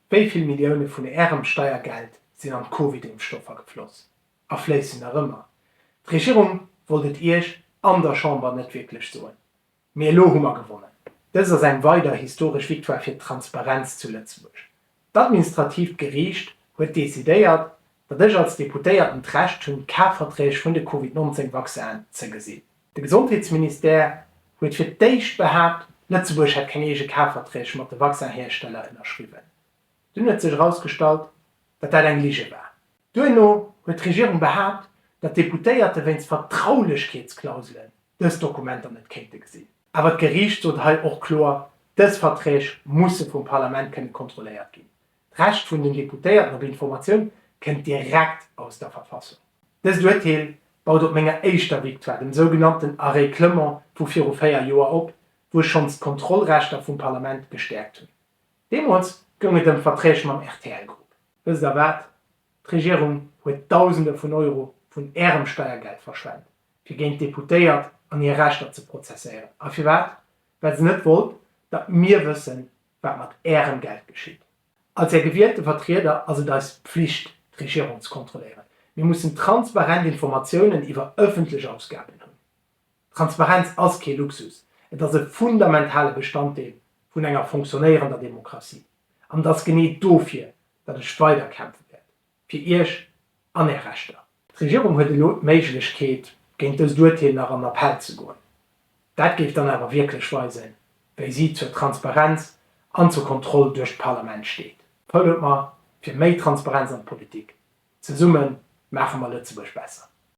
Wéi vill Millioune vun Ärem Steiergeld sinn an d'Covid-Impfstoffer gefloss a fléissen nach ëmmer? D'Regierung wollt et Iech an der Chamber net wierklech soen, mee elo hu mer gewonnen. Dëst ass eng weider historesch Victoire fir d'Transparenz zu Lëtzebuerg. D'administratiivt Geriicht huet decidéiert, datt ech als Deputéierten d'Recht hunn, d'Kafverträg vun de Covid 19 Vaccinen ze gesinn. De Gesondheetsministère huet fir d'éischt behaapt, Lëtzebuerg hätt keng eege Kafverträg mat de Vaccinhiersteller ënnerschriwwen. Dunn huet sech erausgestallt, datt dat eng Lige war. Duerno huet d'Regierung behaapt, datt d'Deputéierte wéinst Vertraulechkeetsklauselen dës Dokumenter net kéinte gesinn. Awer d'Geriicht sot hei och kloer, dës Verträg musse vum Parlament kënne kontrolléiert ginn. D'Recht vun den Deputéierten op Informatioun kënnt direkt aus der Verfassung. Dëst Urteel baut op menger éischter Victoire, dem sougenannten Arrêt Clement vu viru véier Joer op, wou ech schonns d'Kontrollrechter vum Parlament gestäerkt hunn. Deemools goung et ëm Verträg mam RTL-Grupp. Wësst Der wat? D'Regierung huet Dausende vun Euro vun Ärem Steiergeld verschwent, fir géint d'Deputéiert an hir Rechter ze prozesséieren. A firwat? Well se net wollt, datt mir wëssen, wat mat Ärem Geld geschitt. Als Är gewielte Vertrieder ass et eis Pflicht, d'Regierung ze kontrolléieren. Mir mussen transparent Informatiounen iwwer ëffentlech Ausgaben hunn. Transparenz ass kee Luxus, et ass e fundamentale Bestanddeel vun enger fonctionnéierender Demokratie. An et ass genee dofir, datt ech weider kämpfe wäert. fir Iech an Är Rechter. D'Regierung huet elo d'Méiglechkeet, géint dëst Urteel nach an Appell ze goen. Dat géif dann awer wierklech weisen, wéi si zur Transparenz an zur Kontroll duerch d'Parlament steet. Vote mer fir méi Transparenz an d'Politik! Zesumme maache mer Lëtzebuerg besser!